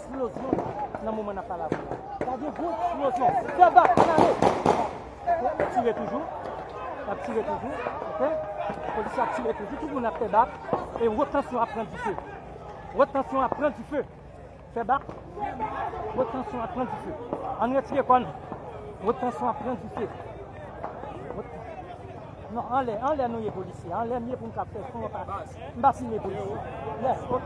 Splozyon nan moman nap pale avèw la. Ta gen gwo splozyon. Fè bak an ale. Ok nap tire toujou. Nap tire toujou. Ok. Polisye ap tire toujou. Tout moun ap fè bak. E wot tansyon ap pran dife. Wot tansyon ap pran dife. Fè bak. Wot tansyon ap pran dife. Ann retire kò nou. Wot tansyon ap pran dife. Non anlè anlè nou ye polisye anlè m ye pou m ka fè son m pa simen polisye yes ok.